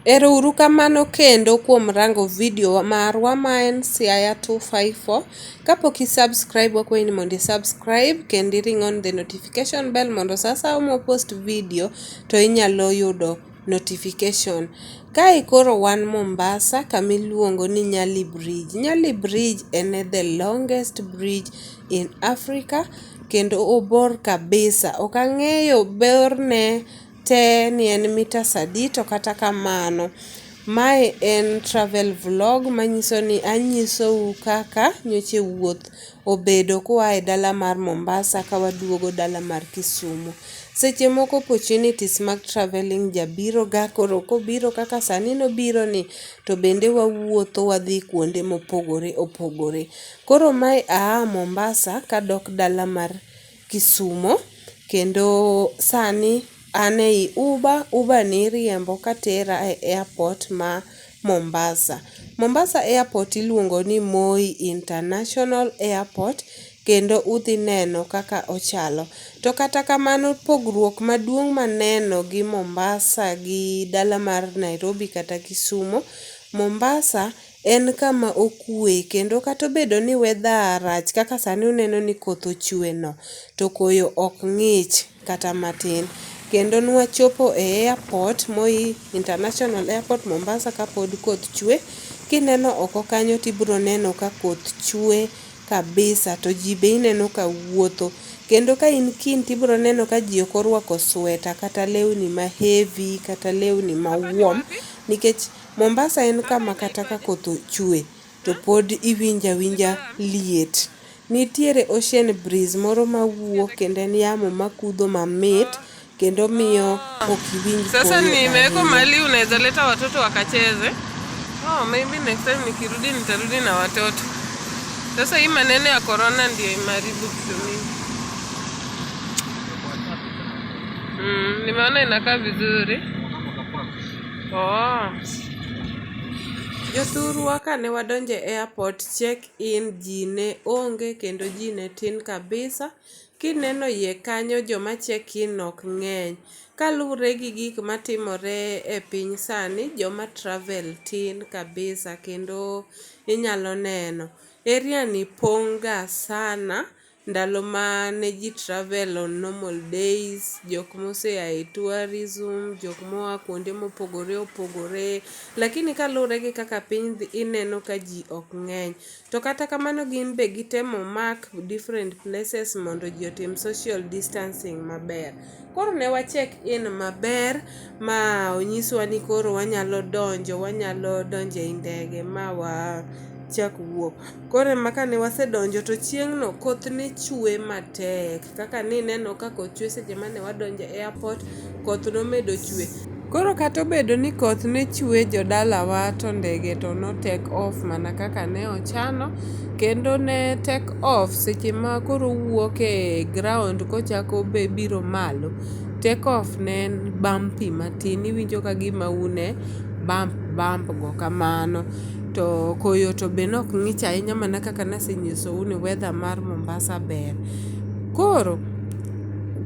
Ero uru kamano kendo kuom rango video marwa ma en Siaya 254. Kapok i subscribe wakwayi ni mondo i subscribe kendo i ring on the notification bell mondo sa asaya mwa post video to inyalo yudo notification. Kae koro wan Mombasa kama iluongo ni Nyali Bridge. Nyali Bridge en e the longest bridge in Africa kendo obor kabisa. Ok ang'eyo borne te ni en metres adi to kata kamano mae en travel vlog manyiso ni anyisou kaka nyoche wuoth obedo kua e dala mar Mombasa ka waduogo dala mar Kisumo. Seche moko opportunities mag travelling ja biro ga koro kobiro kaka sani nobiro ni to bende wawuotho wadhi kuonde mopogore opogore. Koro mae aa Mombasa kadok dala mar Kisumo kendo sani an ei uber, uber ni iriembo katera e airport ma Mombasa. Mombasa airport iluongo ni Moi International Airport kendo udhi neno kaka ochalo. To kata kamano pogruok maduong' maneno gi Mombasa gi dala mar Nairobi kata Kisumo, Mombasa En kama okwe kendo kata obedo ni weather rach kaka sani uneno ni koth ochwe no to koyo ok ng'ich kata matin. Kendo ne wachopo e airport, Moi International Airport Mombasa kapod koth chwe. Kineno oko kanyo to ibiro neno ka koth chwe kabisa to ji be ineno ka wuotho. Kendo ka in kiny to ibiro neno ka ji ok orwako sweta kata lewni ma heavy kata lewni ma warm nikech Mombasa en kama kata ka koth chwe to pod iwinjo awinja liet. Nitiere ocean breeze moro mawuok kendo en yamo makudho mamit kendo miyo ok iwinj Sasa koyo nimewekwa ahinya. mahali unaweza leta watoto wakacheze. Oh, maybe next time nikirudi nitarudi na watoto. Sasa hii maneno ya corona ndio imeharibu vitu mingi. Mm, nimeona inakaa vizuri. Oh. Jothurwa kane wadonje airport check in ji ne onge kendo ji ne tin kabisa. Kineno iye kanyo joma check in ok ng'eny. Kaluwre gi gik matimore e piny sani, joma travel tin kabisa kendo inyalo neno. Area ni pong' ga sana. ndalo ma ne ji travel on normal days, jok moseya e tourism, jok moa kuonde mopogore opogore. Lakini kaluwore gi kaka piny dhi ineno ka ji ok ng'eny. To kata kamano gin be gitemo mark different places mondo ji otim social distancing maber. Koro ne wa check in maber ma onyiswa ni koro wanyalo donjo, wanyalo donjo ei ndege ma wa chak wuok. Koro ema kane wasedonjo to chieng'no koth ne chwe matek kaka nineno ka koth chwe seche mane wadonjo e airport, koth nomedo chwe. Koro kata obedo ni koth ne chwe jodalawa to ndege to no take off mana kaka ne ochano kendo ne take off seche ma koro owuok e ground kochako biro malo. Take off ne en bumpy matin iwinjo ka gima un e bump bump go kamano. To koyo to be ne ok ng'ich ahinya mana kaka ne asenyisou ni weather mar Mombasa ber. Koro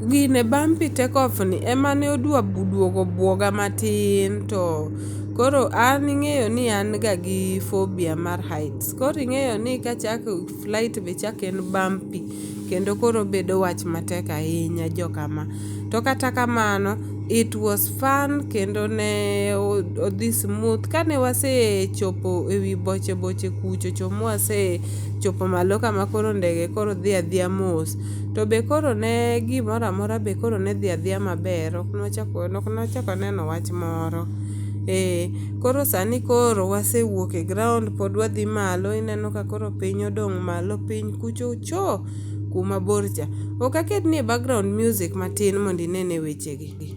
Gine bumpy take off ni ema ne odwa duogo buoga matin to koro an ing'eyo ni an ga gi phobia mar heights koro ing'eyo ni kachako flight be chako en bumpy kendo koro obedo wach matek ahinya joka ma. To kata kamano it was fun kendo ne odhi smooth kane wasechopo e wi boche boche kuchocho mwasechopo malo kama koro ndege koro dhi adhiya mos To be koro ne gimoro amora be koro ne dhi adhiya maber, ok nwachak waneno wach moro. Ee, koro sani koro wasewuok e ground pod wadhi malo ineno ka koro piny odong' malo piny kucho cho kuma bor cha. Ok aketnie background music matin mondo inene weche gi.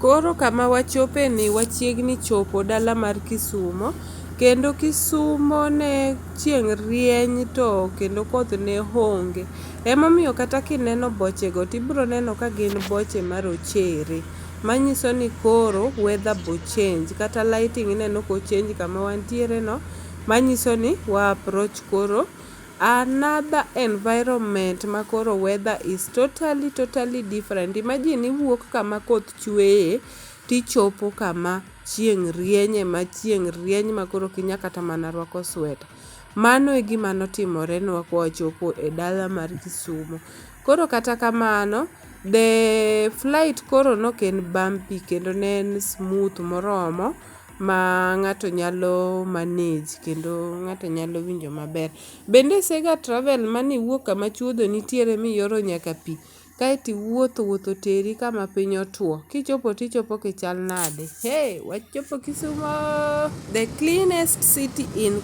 Koro kama wachope ni wachiegni chopo dala mar Kisumo kendo Kisumo ne chieng' rieny to kendo koth ne honge. Emomiyo kata kineno bochego tibro neno ka gin boche marochere. Manyiso ni koro weather bo change kata lighting ineno ko change kama wantiere no manyiso ni wa approach koro another environment ma koro weather is totally totally different. Imagine iwuok kama koth chweye tichopo kama chieng' rienye ma chieng' rieny ma koro ok inya kata mana rwako sweta. Mano e gima notimore nwa kwachopo e dala mar Kisumo. Koro kata kamano the flight koro nok en bumpy kendo ne en smooth moromo ma ng'ato nyalo manage kendo ng'ato nyalo winjo maber. Bende isega travel mane iwuok kama chuodho nitiere miyoro nyaka pi kaeto iwuotho wuoth oteri kama piny otuo kichopo tichopo kichal nade? Hey! Wachopo Kisumo the cleanest city in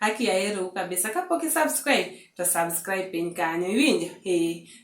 Haki ya heri kabisa. Kapo ki subscribe, to subscribe piny kanyo. Iwinjo? Eh.